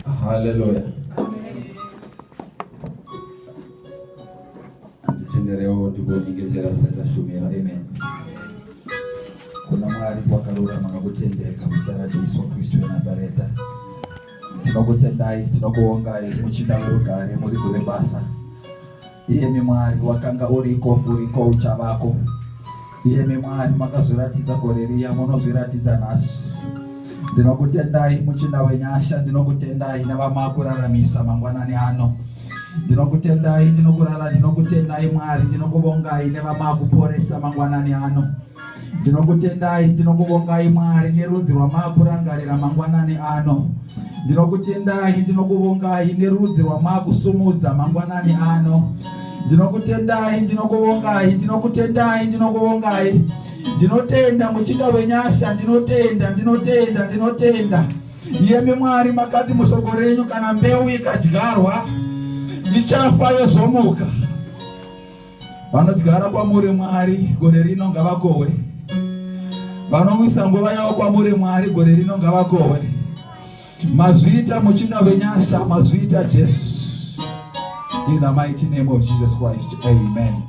Haleluya. Tenderewo tikunyengedzera satashumira. Amen. Kuna Mwari kwakarurama nokutendeka muzita raJesu Kristu weNazareta. Tinokutendai, tinokuongai muchinda werugare, muridzo rebasa. Iyemi Mwari wakanga uriko, uriko, uchavako. Iyemi Mwari makazviratidza gore riya, munozviratidza nhasi. Ndinokutendai muchinda wenyasha, ndinokutendai nevamakuramisa mangwanani ano. Ndinokutendai, ndinokurara, ndinokutendai Mwari, ndinokuvongai nevamakuporesa mangwanani ano. ndinokutendai ndinokuvongai mwari nerudzi rwamaakurangarira mangwanani ano ndinokutendai ndinokuvongai nerudzi rwamaakusumudza mangwanani ano ndinokutendai ndinokuvongai ndinokutendai ndinokuvongai ndinotenda muchinda wenyasha ndinotenda ndinotenda ndinotenda iyemi mwari makati musoko renyu kana mbeu ikadyarwa ichafa yozomuka Vanodyara kwamuri Mwari gore rino ngavakohwe. Vanomwisa nguva yavo kwamuri Mwari gore rino ngavakohwe. Mazviita muchinda venyasa mazviita Jesu. In the mighty name of Jesus Christ. Amen.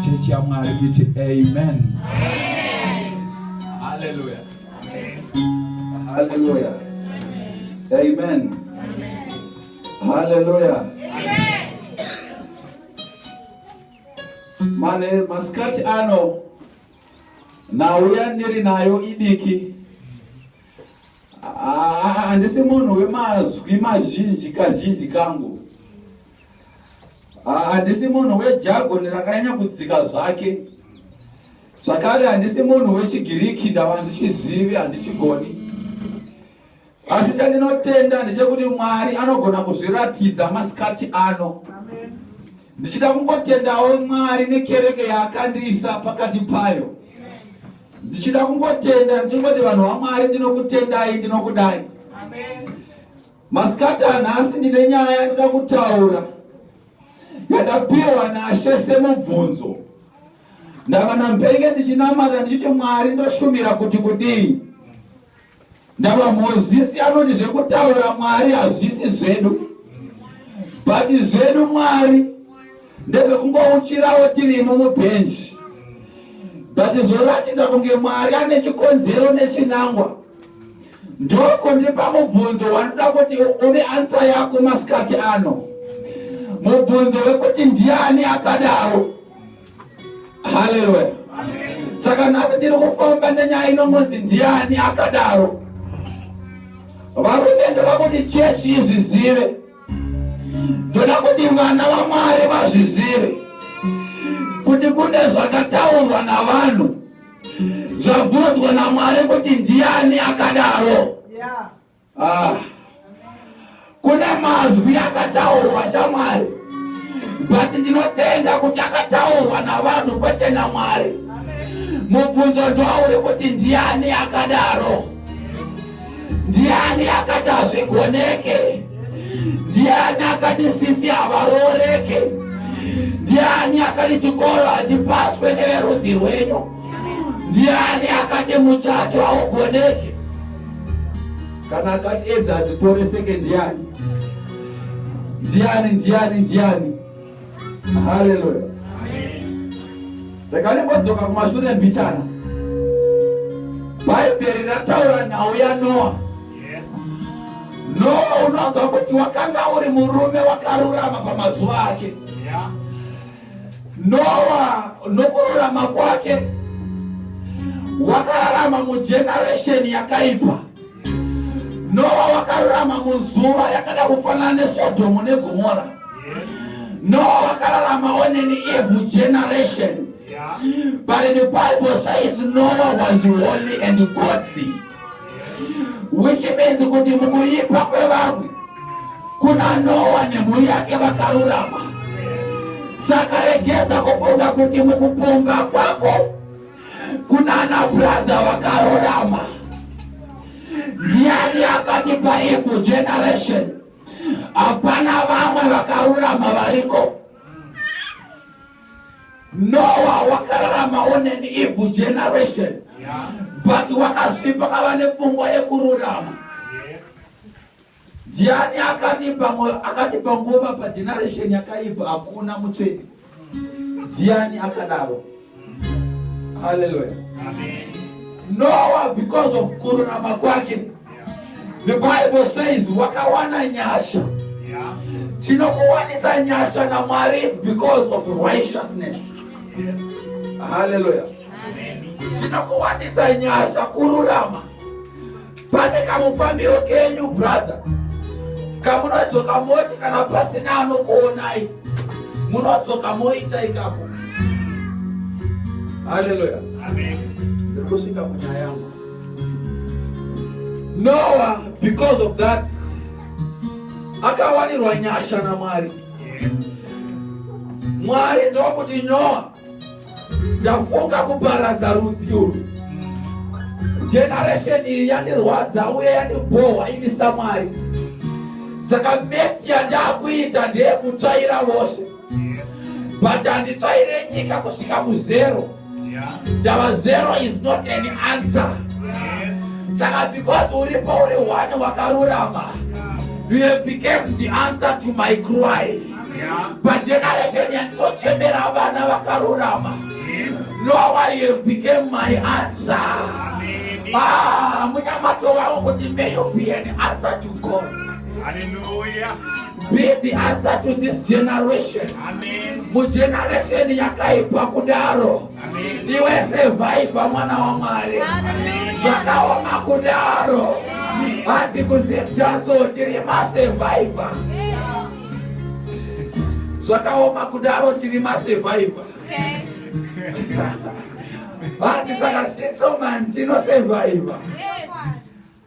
Church ya Mwari iti amen. Hallelujah. Hallelujah. Amen. Hallelujah. mane masikati ano nhau yandiri nayo idiki handisi munhu wemazwi mazhinji kazhinji kangu handisi munhu wejagoni rakanyanya kudzika zvake zvakare handisi munhu wechigiriki ndava ndichizivi handichigoni Asi chandinotenda ndechekuti Mwari anogona kuzviratidza masikati ano. Ndichida kungotendawo Mwari nekereke yaakandiisa pakati payo. Ndichida kungotenda ndichingoti vanhu vaMwari ndinokutendai ndinokudai. Masikati anhasi ndine nyaya yandida kutaura yakapiwa naShe semubvunzo. Ndava nampenge ndichinamata ndichiti Mwari ndoshumira kuti kudii. Ndava Mozisi anoti zvekutaura Mwari hazvisi zvedu but zvedu Mwari ndezvekungouchirawo tirimo mubhenji but zvoratidza kunge Mwari ane chikonzero nechinangwa ndoko ndipa mubvunzo wanoda kuti uve ansa yako masikati ano mubvunzo wekuti ndiani akadaro haleluya saka nhasi ndiri kufamba nenyaya inongonzi ndiani akadaro varume ndoda kuti chechi izvizive ndoda kuti vana vamwari vazvizive kuti kune zvakataurwa navanhu zvabvunzwa namwari kuti ndiani akadaro yeah. Ah. Kune mazwi akataurwa shamwari but ndinotenda kuti akataurwa navanhu kwete namwari mubvunzo ndoauri kuti ndiani akadaro ndiani akati hazvigoneke ndiani akati sisi havarooreke ndiani akati chikoro hachipaswe neverudzi rwenyu Ndiani akati muchato haugoneki? Kana akati edza hadziporeseke ndiani? Ndiani, ndiani, ndiani? Haleluya! Rega ndimbodzoka kumashure mbichana. Bhaibheri rataura nhau yaNoa. Noa unonzwa kuti wakanga uri murume wakarurama pamazuva ake. Yeah. Noa nokururama kwake wakararama mujeneresheni yakaipa. Noa wakarurama muzuva yakada kufanana neSodhomu neGomora. Noa wakararama oneni evil generation. But the Bible says Noah was holy and godly. which means kuti mukuipa kwevamwe kuna Noa nemhuri yake vakarurama. Saka regedza kufunga kuti mukuponga kwako kunana brother vakarurama. Ndiani akati paevil generation hapana vamwe vakarurama variko? Noah wakararamawo an evil generation yeah. but wakazvipa kava nepfungwa yekururama ndiani yes. akatipa nguva pageneration yakaipa hakuna mutsvene ndiani akadaro haleluya noa because of kururama kwake The Bible says wakawana nyasha. Chinokuwanisa nyasha naMwari is because of righteousness. Yes. Hallelujah. Chinokuwanisa nyasha kururama. Pane kamufambiro kenyu brother. Kamunodzoka moti kana pasina anokuonai. Munodzoka moita ikapo. Hallelujah. Amen. Ndiri kusvika kunyaya yangu. Noah because of that akawanirwa nyasha naMwari. Mwari ndokuti Noah ndafunga kuparadza rudzi urwu. Generation iyi yandirwadza uye yandibhohwa ini saMwari. Saka mesi yandakuita ndeyekutsvaira vose. but handitsvaire nyika kusvika kuzero ndava zero is not an answer saka because uripo uri one wakarurama you have became the answer to my cry pageneration yandinochemera vana vakarurama no one you have became my answer ah, munyamato wavo kuti may you be an answer to god Hallelujah. Be the answer to this generation. Amen. Mugeneration yakaipa kudaro. Amen. Iwe survivor mwana wa Mwari. Zvakaoma kudaro. Hanzi kuzimtazo tiri ma survivor. Zvakaoma kudaro tiri ma survivor. Okay. Hanzi saka sitso man tino survivor. Yeah.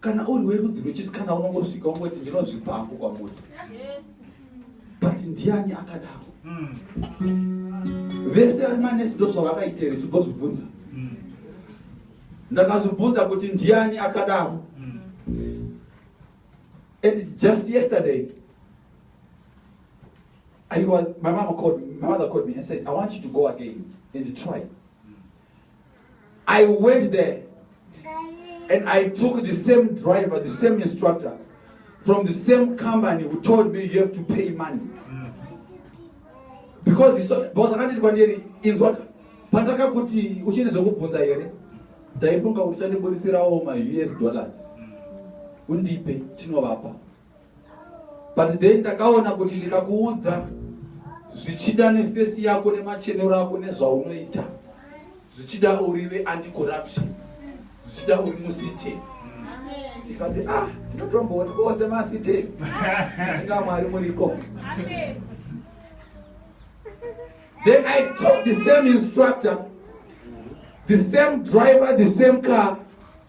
kana uri werudzi rwechisikana unongosvika ungoti ndinozvipa hangu kwamuri but ndiani akadaro vese vari manesi ndozvavakaiteri zvigozvibvunza ndakazvibvunza kuti ndiani akadaro and just yesterday I was, my mama called me, my mother called me and said, I want you to go again and try. I went there and I took the same driver, the same instructor from the same company who told me you have to pay money. Because boss akati kwandiri inzwa pandaka kuti uchine zvekubvunza here ndaifunga kuti chandiburisirawo ma us dollars undipe tinovapa but then ndakaona kuti ndikakuudza zvichida nefesi yako nemachenero ako nezvaunoita zvichida urive anticorruption zvichida uri musiteni ndikati ah tinotomboona kose masiteni inga mwari muriko then i took the same instructor the same driver the same car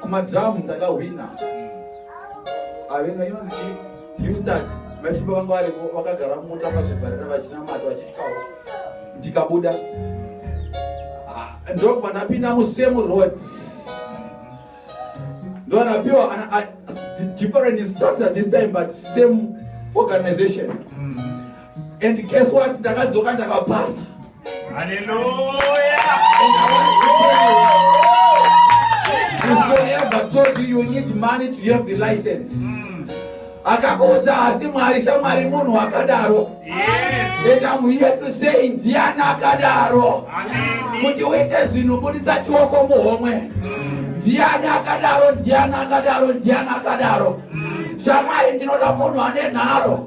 kumadhamu ndakahwina avena inonzi chi newstart maisimba vanga varipo vakagara mumota vazvibharira vachinamata vachisvikawo ndikabuda ah, ndokubva ndapinda musame road ndoanapiwa different instructor this time but same organization mm. and guess what ndakadzoka ndakapasa Hallelujah. Whosoever told you you need money to have the license. Mm. Akakuudza hasi Mwari shamwari munhu akadaro. Yes. And I'm here to say ndiani akadaro. Amen. Kuti uite zvinhu buditsa chioko muhomwe. Mm. Ndiani akadaro, ndiani akadaro, ndiani akadaro. Mm. Shamwari ndinoda munhu ane nharo.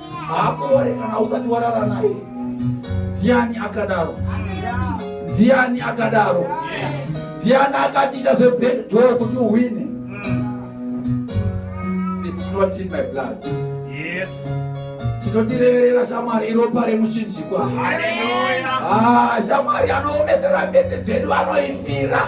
haakurore kana usati warara naye ndiani akadaro ndiani akadaro ndiani akatiita zvebedoo kuti uhwine tinotireverera shamwari iropa remushinjikwa ah, shamwari anoomesera mbedzi dzedu anoifira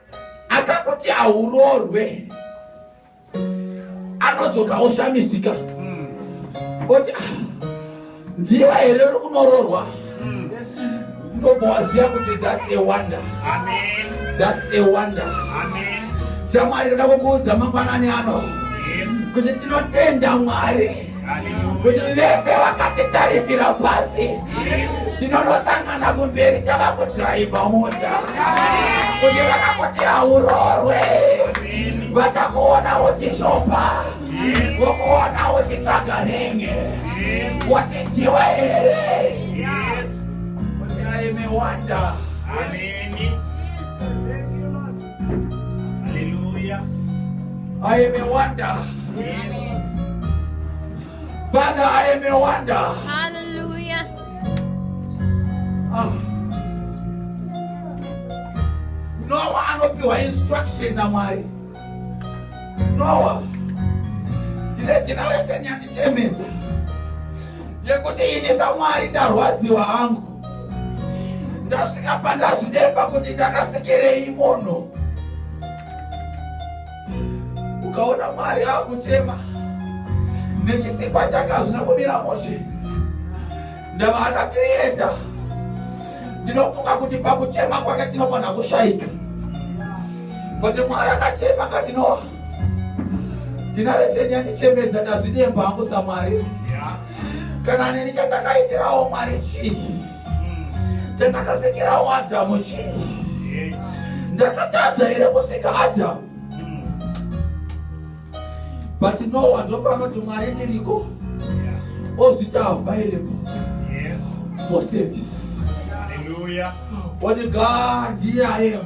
akakuti hauroorwe anodzoka oshamisika mm. oti ah, ndiwa here uri kunoroorwa mm. ndobowaziva kuti thats a wonder thats a wonder shamwari ndoda kukuudza mangwanani ano kuti tinotenda mwari kuti vese vakatitarisira pasi tinonosangana kumberi tava kudhiraivha mota kuti vakakuti haurorwe vachakuona uchishopa vokuona uchitsvaga ringe wachinjiwa here kuti aime wanda Amen. Hallelujah. I am a wonder. Yes. Father, I am a wonder. Hallelujah. Ah. Noah anopiwa instruction naMwari. Noah ndine generation yandichemedza yekuti ini saMwari ndarwadziwa hangu. ndasvika pandazvidemba kuti ndakasekerei mono ukaona mwari akuchema nechisikwa chakazvina kumira moshe ndava akakiriyeta ndinofunga kuti pakuchema kwake tinogona kushaika kuti mwari akachema katinoa ndinarese nyandichemedza ndazvidemba hangu samwari kana neni chandakaitirawo mwari chii chandakasikirawo adhamu chii ndakatadza here kusika adhamu but no one ndopanoti mwari ndiriko ozvita available for service Hallelujah. What a God here I am.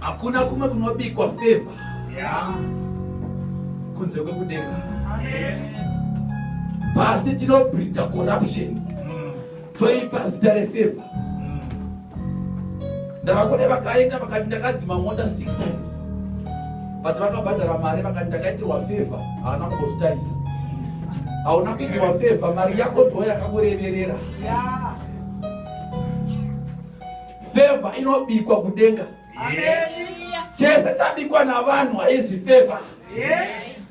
hakuna kumwe kunobikwa feva kunze kwekudenga pasi tinobridha corruption mm. toipa zita refeva ndavakode vakaenda vakati ndakadzima mota 6 times but vakabhadhara mari vakati ndakaitirwa favor haana kumbozvitarisa hauna kuitirwa favor mari yako ndo yakakureverera favor inobikwa kudenga chese tabikwa navanhu haizi favor yes.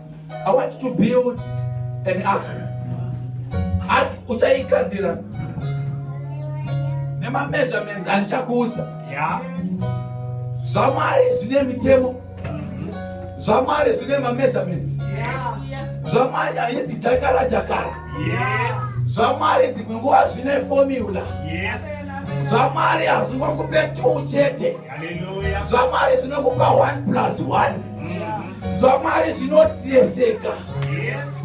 I want to build an ark. Ark uchaigadzira nema measurements andichakuudza. Yeah. ZvaMwari zvine mitemo. ZvaMwari zvine ma measurements. Yes. ZvaMwari haisi jakara jakara. Yes. ZvaMwari dzimwe nguva zvine formula. Yes. ZvaMwari hazvingokupe two chete. Hallelujah. ZvaMwari zvinokupa one plus one. zvamwari zvinotreseka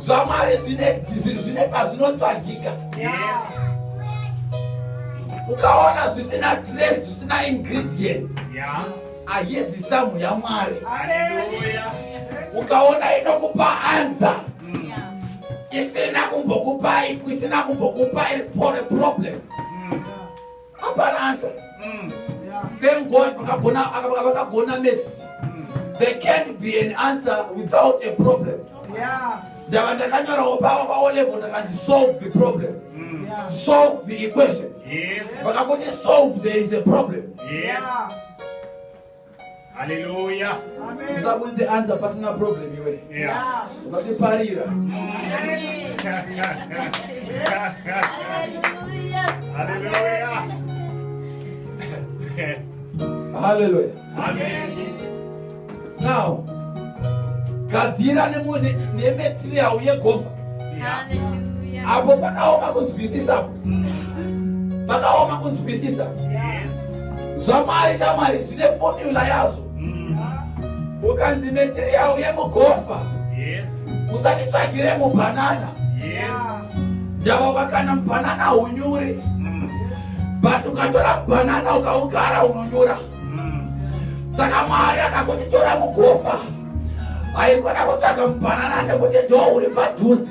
zvamwari zvine pazvinotsvagika ukaona zvisina tres zvisina ingredient ayezi samu yamwari ukaona inokupa anza mm. isina kumbokupa isina kumbokupa problem Hapana answer. Mm. Yeah. Thank God vakagona vakagona mess. Mm. There can't be an answer without a problem. Yeah. Ndava ndakanyorawo pavo pavo level ndakanzi solve the problem. Mm. Yeah. Solve the equation. Yes. Vakagoti solve there is a problem. Yes. Yeah. Hallelujah. Amen. Usakunze anza pasina problem iwe. Yeah. Ungati parira. Amen. Hallelujah. Hallelujah. Hallelujah. Amen. Now, gadzira nemuti nemetirial yegovha. Hallelujah. Apo pakaoma kunzwisisa. pakaoma kunzwisisa zvamwari chamwari zvine fomula yazvo mm. ukanzi material yemugofa usatitsvagire mubhanana ndava vakana mubhanana unyure mm. but ukatora mubhanana ukaugara unonyura mm. saka mwari akakuti tora mugofa haikona kutsvaga mubhanana nekuti ndo uri padhuze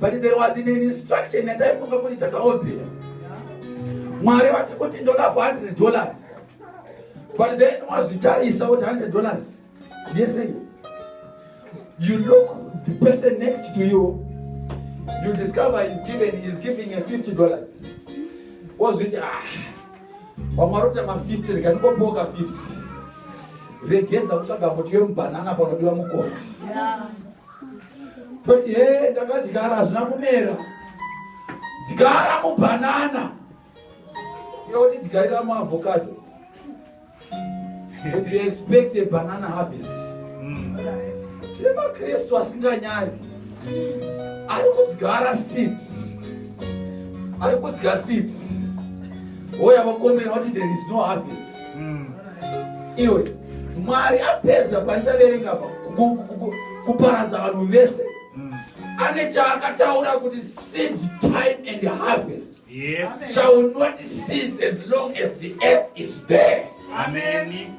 but there was an instruction yataifunga kuti takaombera mwari vati kuti ndoda for 100 dollars but then wazvitarisa kuti 100 dollars yese you look the person next to you you discover is given is giving a 50 dollars wozviti ah vamwari kuti ma 50 rikandikopoka 50 regenza kutsvaga muti yemubhanana panodiwa mukofa yeah. toti he ndakadyara hazvina kumera dyara mubhanana yoti dyarira muavocado and you expect a banana harvest hmm. tine makristu asinganyari ari kudyara seed ari kudya seed oya vakomera vati there is no harvest mm. iwe mwari apedza pandichaverenga pa kuparadza vanhu vese mm. ane chaakataura kuti seed time and harvest yes. shall not cease as long as the earth is there Amen.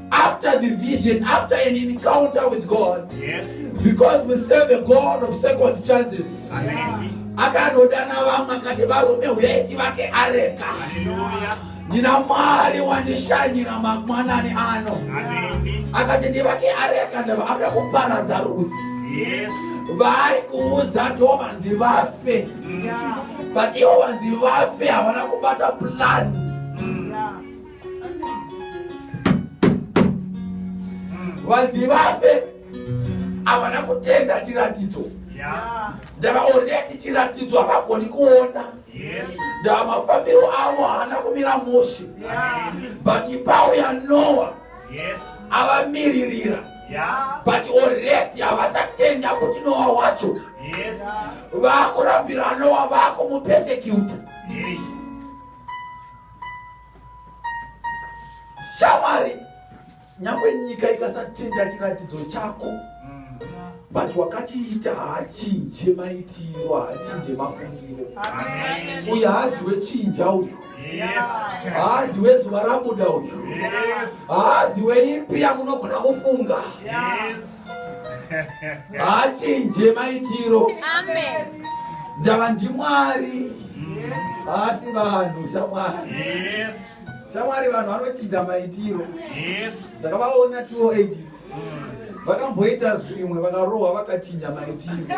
after the vision, after an encounter with God, yes. because we serve a God of second chances. akanodana vamwe akati varume huyai tivake areka ndina mwari wandishanyira mangwanani ano akati ndivake areka ndava akuda kuparadza rudzi vari kuudza to vanzi vafe but ivo vanzi vafe havana kubata plani vanzi vafe havana kutenda chiratidzo ndavaorea ti chiratidzo havagoni kuona ndava mafambiro avo haana kumira mushe but ipawo yanoa avamiririra but oredi havasatenda kuti noa wacho vakurambira noa vakumupesecuta shamwari nyangwe nyika ikasatenda chiratidzo chako but wakachiita haachinje maitiro haachinje mafungiro uyo haazi wechinja uyo haazi wezuva rabuda uyo haazi weipi yamunogona kufunga haachinje maitiro ndava ndimwari haasi vanhu shamwari shamwari vanhu vanochinja maitiro ndakavaona tiwo agent vakamboita zvimwe vakarohwa vakachinja maitiro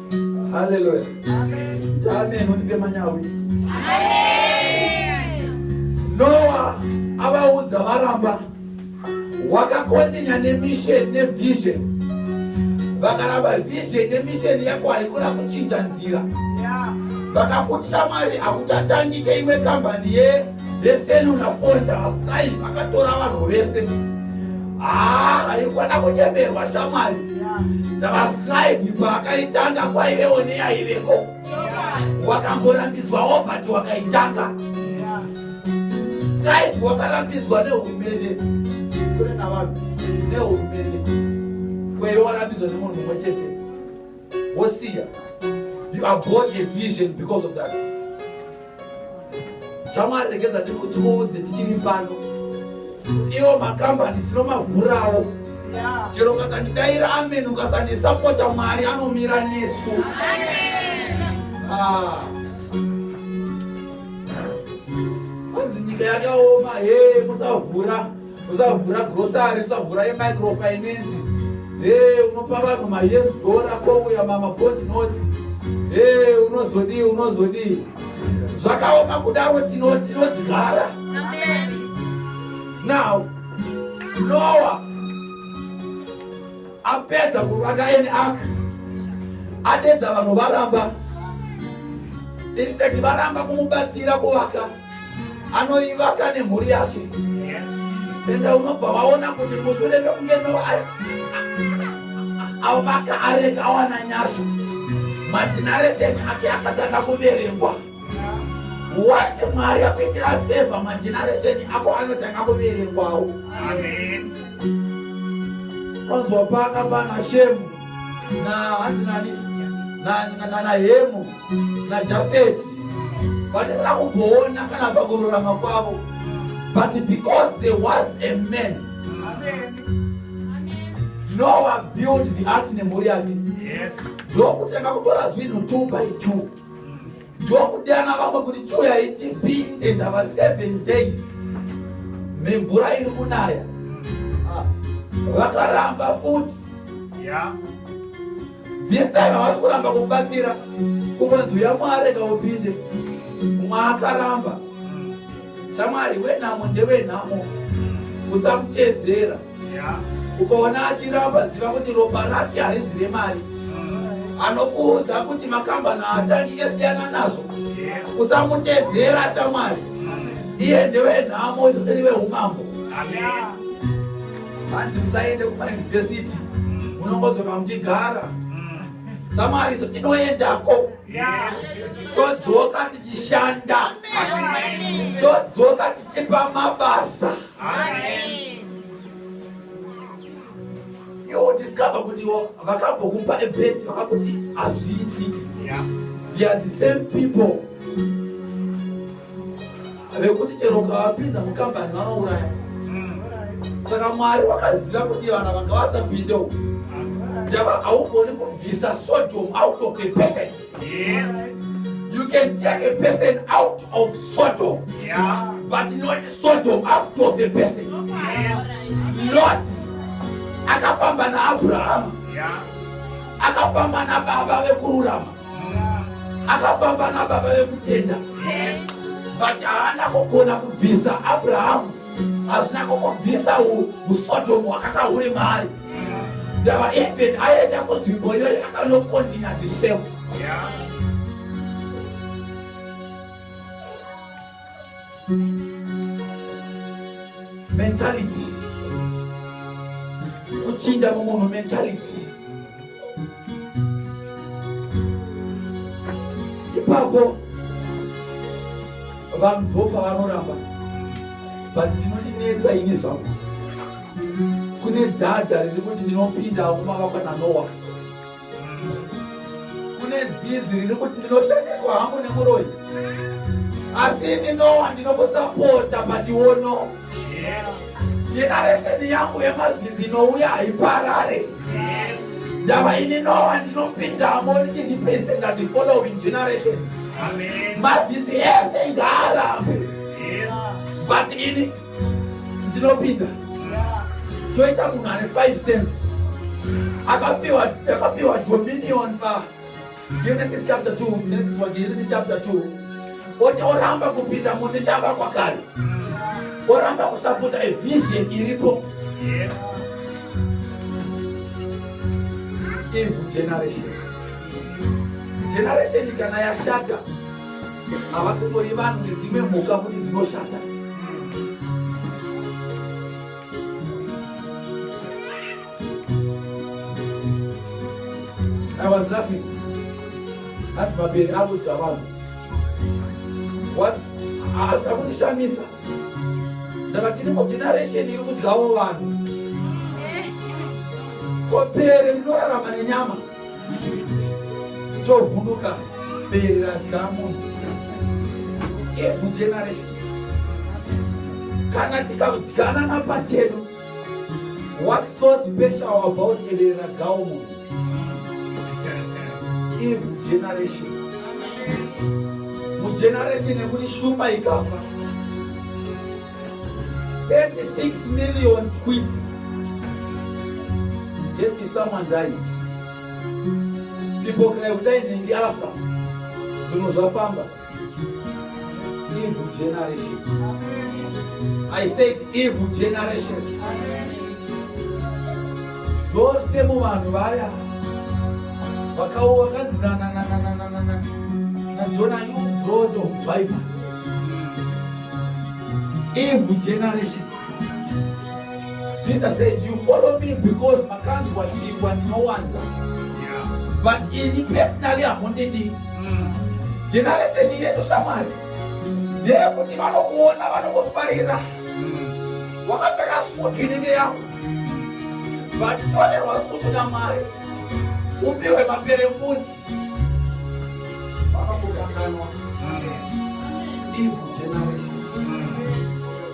Hallelujah. Amen. Amen. Undipe manyawi. Amen. Noah avaudza varamba wakakondinya nemission nevision vakaramba vision nemission yako haikona kuchinja nzira vakakutisa mwari hakutatangike imwe kambani ye The cellular phone was trying, akatora vanhu vese. Ah, haikona kunyeberwa shamwari. The was trying, kwakaitanga kwaive one yaiveko. Wakamborambidzwawo but wakaitanga. Strike wakarambidzwa nehurumende. Kune navanhu nehurumende. Kwaive warambidzwa nemunhu mumwe chete. Wosiya. You abort a vision because of that. shamwari regedza ndikutuudze tichiri pano iwo makambani tinomavhurawo chero ukasandidaira amen ukasandisapota mwari anomira nesu ah. anzi nyika yakaoma he musavhura usavhura grocery usavhura yemicrofinance e unopa vanhu mayes dora kouya mamabond notes e unozodii unozodii zvakaoma kudaro tinodyara now noa apedza kuvaka eni ak adedza vanhu varamba infact varamba kumubatsira kuvaka anoivaka nemhuri yake ende unobva vaona kuti musure mekunge no avaka areka awana nyasa madhinareseni ake akatanga kuverengwa wasi mwari akuitira fevha madhinareseni ako anotanga kuverengwawo anzwa paka pana shemu na hanzi nani na, na, na, na, na hemu najafeti vatisina kumboona kana pakururama kwavo but because there was a man noa build the ark nemhuri yake ndokutanga kutora zvinhu two by two ndokudana vamwe kuti chiuyai tipinde ndava seven days mimvura iri kunaya vakaramba futi yeah. this time havasi kuramba kubatsira kubanzi uya mwari kaupinde mwaakaramba shamwari wenhamo ndewenhamo usamutedzera ukaona achiramba ziva kuti ropa rake harizive mari anokuudza kuti makambani aatangike siyana nazvo usamutedzera shamwari iye ndewenhamo izotirive umambo hanzi musaende kumayunivhesiti munongodzoka muchigara samwari iso tinoendako todzoka tichishanda todzoka tichipa mabasa iwo discover kuti iwo vakambokupa ebet vakakuti hazviitiki they are the same people vekuti chero ukavapinza mukambani vanouraya saka mwari wakaziva kuti vana vanga vasapinde uku ndava haugoni kubvisa sodom out of a person yes. you can take a person out of sodom yeah. but not sodom out of a person yes. not akafamba naabrahama yeah. akafamba nababa vekururama akafamba nababa vekutenda but haana kugona kubvisa abrahamu hazvina kukubvisa usodomu hwakakahure mari ndava even aenda kunzvimbo iyoyo akanokondina the same yeah. mentality kuchinja mumunhu mentality ipapo vanhu ndo pavanoramba but chinondinetsa ini zvangu kune dhadha riri kuti ndinopinda kumavakwa nanowa kune zizi riri kuti ndinoshandiswa hangu nemuroyi asi ini nowa ndinokusapota pationo jenareseni yangu yemazizi inouya haiparare ndava ini nowa ndinopindamo ndichiripesenda the following generations mazizi ese ngaarambe but ini ndinopinda toita munhu ane 5 cents akapiwa akapiwa dominion pa genesis chapter 2 genesis wa genesis chapter 2 oti oramba kupinda munhu chava kwakare oramba kusapota a vision iripo yes. evil generation generation kana yashata havasingori vanhu nedzimwe mhuka kuti dzinoshata i was laughing hanzi mabere akudya vanhu what hazvina kundishamisa ndava tiri mugeneration iri kudyawo vanhu kopere rinorarama nenyama chovhunduka bere radya munhu evil generation kana tikadyana napachedu what so special about bere radyawo munhu evil generation mugeneration yekuti shumba ikafa 36 million quids yet if someone dies people cry kudai nhingi afa zvinhu zvafamba evil generation i said evil generation dzose muvanhu vaya vakawo vakanzi nananananananana najona you broad of vipers Evil generation. Jesus said, You follow me because makanzi washingwa ndinowanza. Yeah. But ini personally hamundidi. Mm. Generation yedu shamwari ndeyekuti vanokuona vanokufarira mm. wakapfeka sutu inenge yako but torerwa sutu namwari upiwe maperembudzi vakakukanganwa evil generation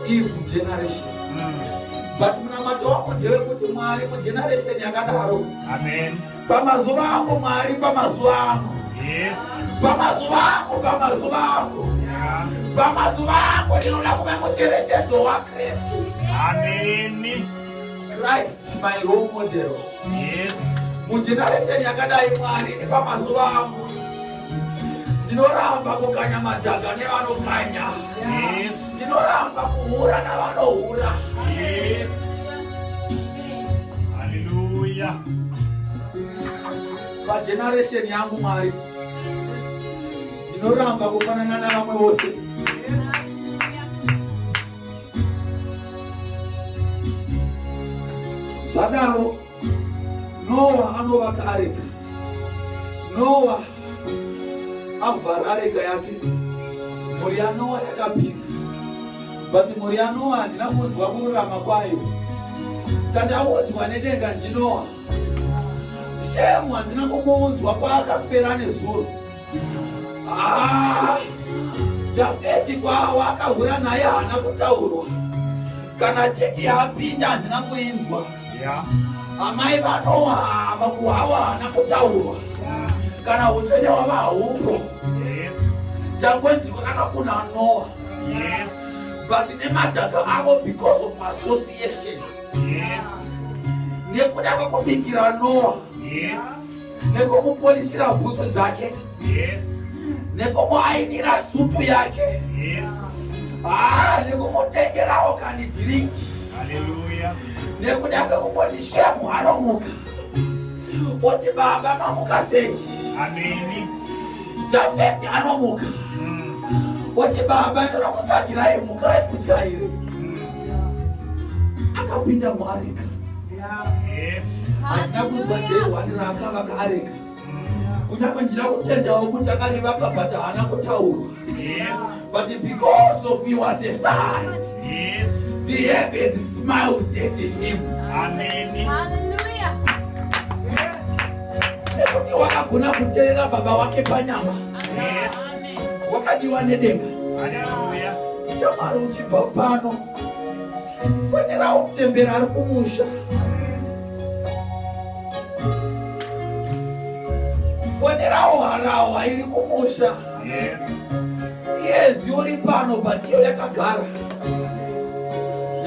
evil generation but munamato wako ndewekuti mwari mugeneration yakadaro amen pamazuva ako mwari pamazuva ako yes pamazuva ako pamazuva ako pamazuva ako ndinoda kuve mucherechedzo wakristu ameni Christ my role model. Yes. Mugeneration yakadai Mwari nepamazuva angu ndinoramba kukanya madhaga nevanokanya. Yes. Ndinoramba kuhura navanohura. Yes. Hallelujah. Pageneration yangu Mwari ndinoramba kufanana navamwe vose. Yes. zvadaro noa anovaka areka noa avhara areka yake mhuri yanoa yakapinda but mhuri yanoa handina kunzwa kururama kwayo tandaudzwa nedenga ndinoa shemu handina kumbounzwa kwaakaswera nezuro Ah, Jafeti kwawa akahura naye haana kutaurwa kana cheti yapinda handina kuinzwa Yeah. amai vanowa hava kuhawa haana kutaurwa kana utsvene wava haupo Yes. changonziko kakakuna nowa Yes. but nemadhaka avo because of association Yes. nekuda kwekubikira nowa Yes. nekomupolisira bhutsu dzake nekomuainira supu yake ah, nekumutengerawo kani dhiringi nekuda kwekungoti shemu anomuka oti baba mamuka sei jafeti anomuka mm. oti baba ndinokutsvagirai mukai kudya here mm. akapinda muarika hatina kunzwa jehwani raakavaka areka kunyangwe ndina kutendawo kuti akarivaka but haana kutaurwa but because of he was a son the heavens smiled at him nekuti wakagona kuterera baba wake panyama wakadiwa nedenga shamwari uchibva pano Fanirawo kuchembera ari kumusha. Fanirawo harawa iri kumusha. Yes. Yes, yori pano but iyo yakagara.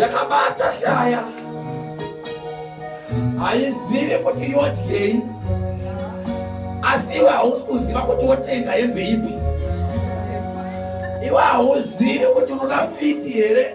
Yakabata shaya. Haizivi kuti yodyei. Asi iwe hausi kuziva kuti wotenga hembe ipi. Iwe hauzivi kuti unoda fiti here?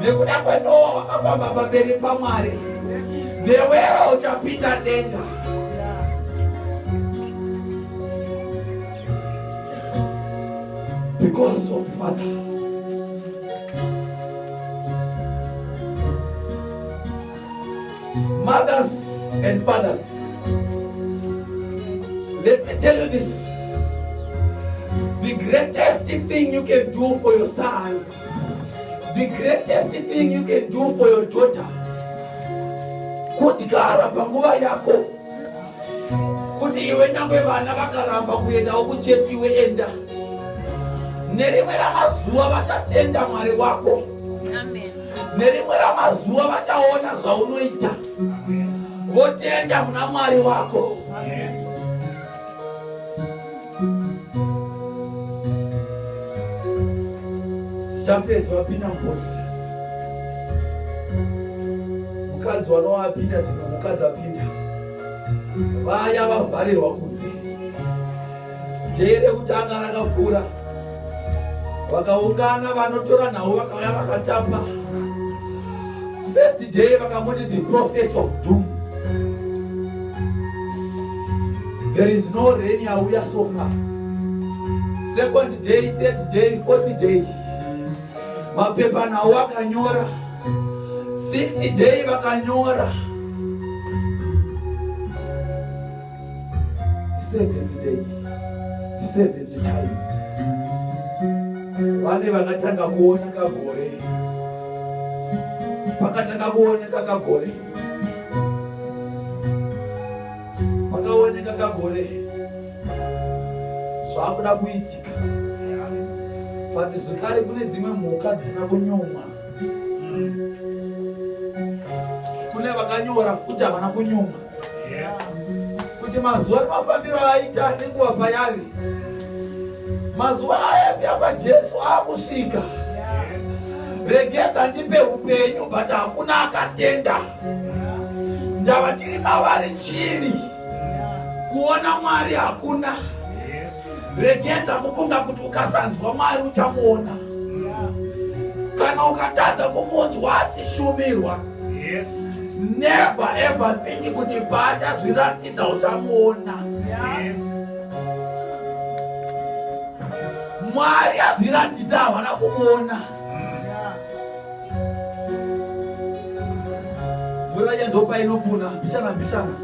nekuda kwenoa wakafamba pamberi pamwari newewo uchapinda denga because of father Mothers and fathers, let me tell you this. The greatest thing you can do for your sons, the greatest thing you can do for your daughter, kudyara panguva yako kuti iwe nyangwe vana vakaramba kuendawo kuchechi iwe enda nerimwe ramazuva vachatenda mwari wako Amen. nerimwe ramazuva vachaona zvaunoita votenda muna mwari wako zafedzi vapinda mhozi mukadzi wanovapinda dzimwe mukadzi apinda vaya vavharirwa kunze Dhee rekutanga rakavhura, vakaungana vanotora nhau vakauya vakatamba. First day vakamuti the prophet of doom. There is no rain yauya so far. Second day, third day, fourth day, mapepa nhau akanyora. Sixth day vakanyora the seventh day the seventh time vane vakatanga kuona kagore pakatanga kuoneka kagore pakaoneka kagore zvakuda kuitika but zvekare kune dzimwe mhuka dzisina kunyumwa kune vakanyora futi havana kunyumwa kuti mazuva nemafambiro aita nenguva payave mazuva aya pia pajesu akusvika regedza ndipe upenyu but hakuna akatenda ndava tiri mavari chini kuona mwari hakuna regedza kufunga kuti ukasanzwa mwari uchamuona kana ukatadza kumunzwa achishumirwa never ever think kuti paachazviratidza uchamuona mwari azviratidza havana kumuona mvura yandopa inopuna bishana bishana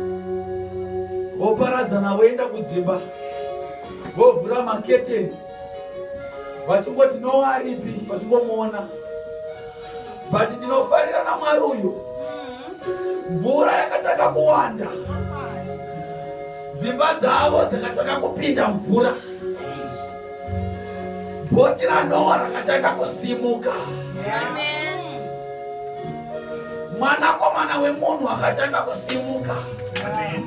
woparadzana woenda kudzimba vovhura maketeni vachingoti nowaripi vachingomuona but ndinofarira namwari uyu mvura yakatanga kuwanda dzimba dzavo dzakatanga kupinda mvura Boti raNoa rakatanga kusimuka. Amen. Mwanakomana wemunhu akatanga kusimuka. Amen.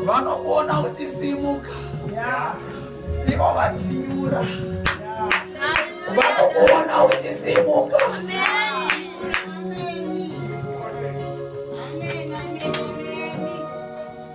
Vanokuona uchisimuka. Yeah. Ivo vachinyura. Yeah. Vanokuona uchisimuka. Amen.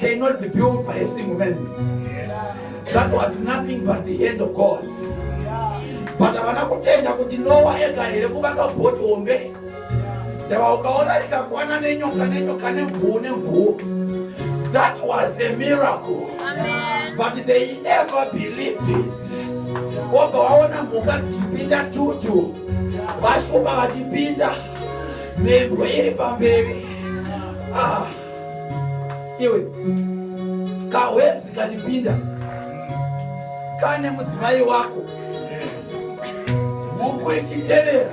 cannot be built by a single man that was nothing but the hand of god but havana kutenda kuti nowa ega here kuvaka boti hombe ndava ukaona rikakwana nenyoka nenyoka nemvuu nemvuu that was a miracle Amen. but they never believed it obva waona mhuka dzichipinda tutu vashupa vachipinda mhembwe iri pamberi ah. iwe kahwebzi katipinda kane mudzimai wako huku ichitevera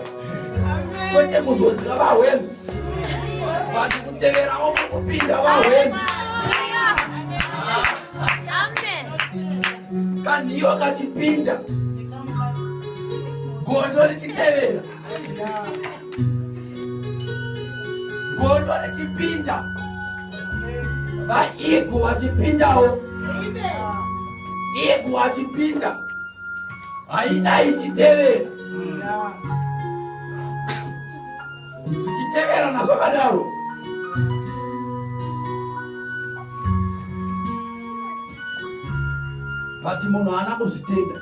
kwete kuzodya vahwebzi vati kuteverawo mukupinda vahwebzi kanhiyo katipinda gondo richitevera gondo richipinda vaigu vachipindawo igu vachipinda haina ichitevera zvichiteverana zvakadaro but munhu haana kuzvitenda